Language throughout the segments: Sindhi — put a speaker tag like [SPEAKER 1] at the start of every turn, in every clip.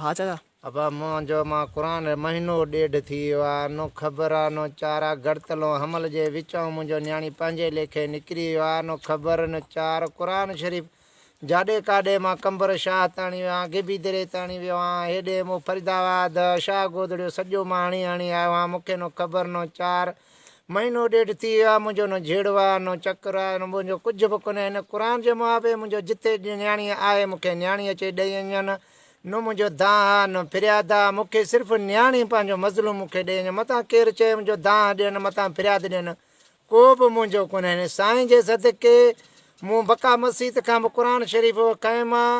[SPEAKER 1] ها چاچا. ابا منهنجو
[SPEAKER 2] مان قرآن مهينو ڏيڍ ٿي ويو آ نو خبر آ نو چار آ گڙتلون حمل جي وچئون منهنجو نياڻي پنهنجي ليکي نڪري ويو آ نو خبر نو چار قرآن شريف جاڏي ڪاڏي مان قمبر شاهه تاڻي ويو آن گيبي دري تاڻي ويو آن هيڏي مون فريدآباد شاهه گودڙيو سڄو مان هڻي هڻي آيو آن مونکي نو خبر نو چار مهينو ڏيڍ ٿي ويو آهي منهنجو نه جهيڙو آهي نه چڪر آهي نه منهنجو ڪجهه به ڪونهي هن قرآن جي موافي منهنجو جتي نياڻي آهي مون کي نياڻي اچي ڏئي اڃن نه منهنجو دانهن آهي نه فرياد آهي مون کي صرف نياڻي پنهنجو مظلوم مون کي ڏئي اڃن متان ڪير چئي منهنجو دانهن ڏين متان فرياد ڏين ڪو به منهنجو ڪونهي هن سائين جي صدقي مون بقا مسيت کان به قرآن شريف کانئن مان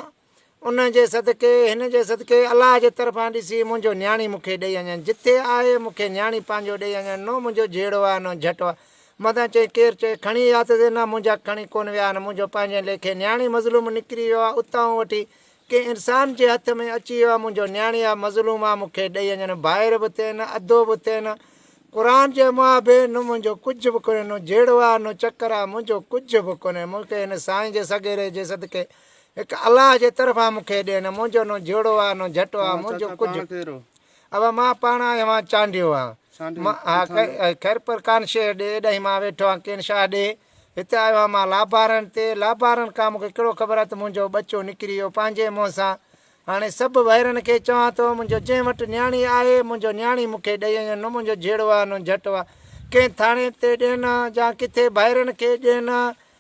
[SPEAKER 2] ان جي صدقي، هن جي صدقي، الله جي طرفان ڏسي، منهنجو نياڻي مون کي ڏئي اڃڻ، جتي آهي، مون کي نياڻي پنهنجو ڏئي اڃڻ، نو منهنجو جهيڙو آ، نو جهٽ آ. مدن چيائين، ڪير چئي، کڻي اها ته زينا، منهنجا کڻي ڪونه ويا آهن، منهنجو پنهنجي ليکي نياڻي مظلوم نڪري ويو آ، اتانهون وٺي، ڪنهن انسان جي هٿ ۾ اچي ويو آ، منهنجو نياڻي آ، مظلوم آ، مون کي ڏئي اڃڻ، ڀائر به تين نه، ادو به تين نه. قرآن جي مابين، نو منهنجو ڪجهه به ڪونهي، نو جهيڙو آ، نو چڪر آ، منهنجو ڪجهه به ڪونهي، مون کي هن سائين جي سڳيري جي صدقي، هڪ الله جي طرفان مون کي ڏين. منهنجو نو جهڙو آ، نو جهٽو آ، منهنجو ڪجهه. اوا مان پاڻ آهيان اهان چانڊيو آ. خير پر ڪان شيء ڏي، ايڏاهين مان ويٺو آهان ڪين شاهه ڏي. هتي آيو آهان مان لابارن تي، لابارن کان مون کي ڪهڙو خبر آ ته منهنجو ٻچو نڪري ويو پنهنجي منهن سان. هاڻي سڀ وهرن کي چوان ٿو، منهنجو جنهن وٽ نياڻي آهي، منهنجو نياڻي مون کي ڏئي وڃن، نو منهنجو جهڙو آ، نو جهٽو آ. ڪنهن ٿاڻي تي ڏين، جا ڪٿي ڀائرن کي ڏين،